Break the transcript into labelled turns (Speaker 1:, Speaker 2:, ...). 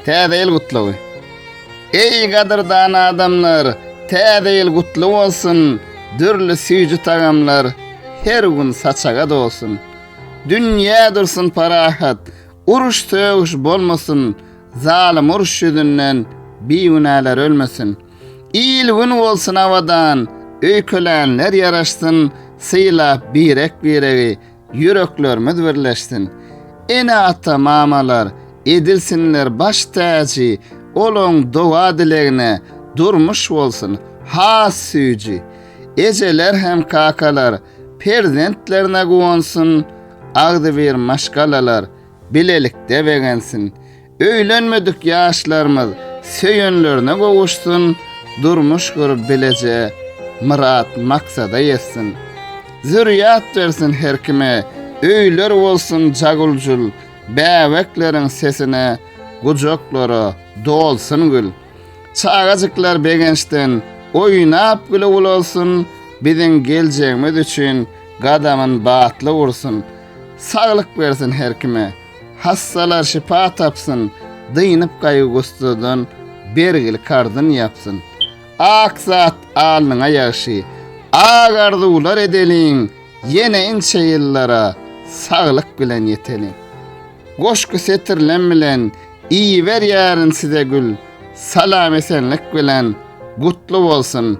Speaker 1: Täze ýyl gutlagy. Eý gadyrdan adamlar, täze ýyl gutly bolsun, dürli süýji tagamlar her gün saçaga dolsun. Dünýä dursun parahat, uruş-sögüş bolmasyn, zalym uruş ýüzünden bigünäler ölmesin. Il-gün bolsun abadan, öýkelänler ýaraşsyn, sylap birek-biregi, Ýüreklerimiz birleşsin. Ene ata mamalar edilsinler baş täji olaň doga dilegine durmuş bolsun has süýji ejeler hem kakalar perzentlerine guwansyn agzybir maşgalalar bilelikde begensin Öýlenmedik ýaşlarymyz söýenlerine gowuşsun, durmuş gürüp bileje myrat maksada ýetsin. Zürýat bersin her kime, öýler bolsun jaguljul, bäbekleriň sesine gujaklara dolsun gül. Çagajyklar begençden oýnap güle ulalsyn, biziň geljegimiz üçin gadamyn batly ursun. Saglyk bersin her kime. Hassalar şypa tapsyn, dynyp gaýgy-gussadan, bergil karzyn ýapsyn. Ak zat alnyňa ýagşy, ak arzuwlar edeliň, ýene inçe ýyllara saglyk bilen ýeteliň. Goşgy setirlem bilen iberýärin size gül, salam-esenlik bilen gutly bolsun!